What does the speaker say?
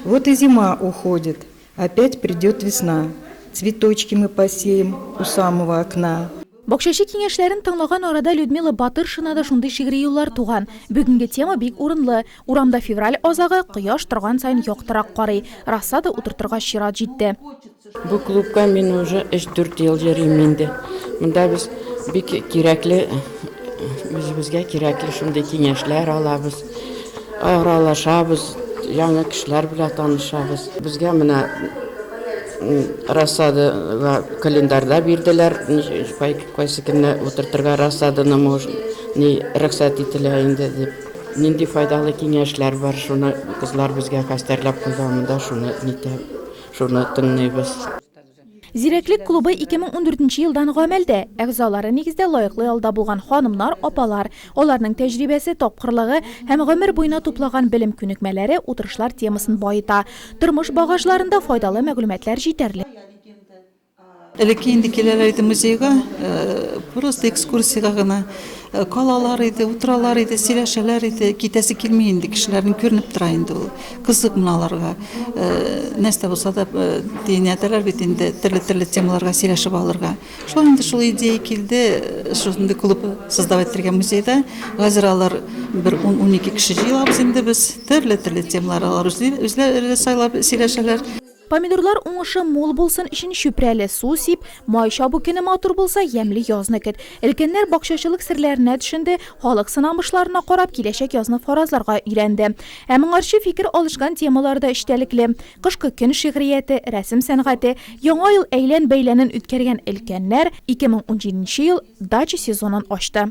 Вот и зима уходит, опять придет весна, Цветочки мы посеем у самого окна. Бакчачы киңәшләрен тыңлаган арада Людмила Батыршина да шундый шигъри юллар туган. Бүгенге тема бик урынлы. Урамда февраль азагы, кояш торган саен яктырак карый. Рассада утыртырга чират җитте. Бу клубка мин уже 3-4 ел йөрим инде. Монда без бик кирәкле үзебезгә кирәкле шундый киңәшләр алабыз, аралашабыз, яңа кешеләр белән танышабыз. Безгә менә рассадага календарьда бирделәр, кайсы көнне утыртырга рассаданы ни рөхсәт ителә инде дип. Нинди файдалы киңәшләр бар, шуны кызлар безгә хәстәрләп куйган монда, шуны нитә. Шуны тыңлыйбыз. Зирәклек клубы 2014 нче елдан гамәлдә. Әгъзалары нигездә лаеклы ялда булган ханымнар, апалар. Аларның тәҗрибәсе, тапкырлыгы һәм гомер буена туплаган белем күнекмәләре утырышлар темасын баета. Тормыш багажларында файдалы мәгълүматлар җитәрлек. Элекке инде киләләр иде музейга, просто экскурсиягә гына. Калалар иде, утыралар иде, сөйләшәләр иде. Китәсе килми инде кешеләрнең күренеп тора инде ул. Кызык менә аларга. Нәрсә булса да тиенәдәләр бит инде төрле-төрле темаларга сөйләшеп алырга. Шулай инде шул идея килде, шундый клуб создавать итәргә музейда. Хәзер алар бер 10-12 кеше җыелабыз инде без. Төрле-төрле темалар алар үзләре сайлап сөйләшәләр. Помидорлар уңышы мул булсын өчен чүпрәле су сип, май чабу көне матур булса, ямьле язны көт. Өлкәннәр бакчачылык серләренә төшенде, халык сынамышларына карап, киләчәк язны фаразларга өйрәнде. Ә моңарчы фикер алышкан темалар да эчтәлекле, Кышкы көн шигърияте, рәсем сәнгате, Яңа ел әйлән-бәйләнен үткәргән өлкәннәр, 2017 ел дача сезонын ачты.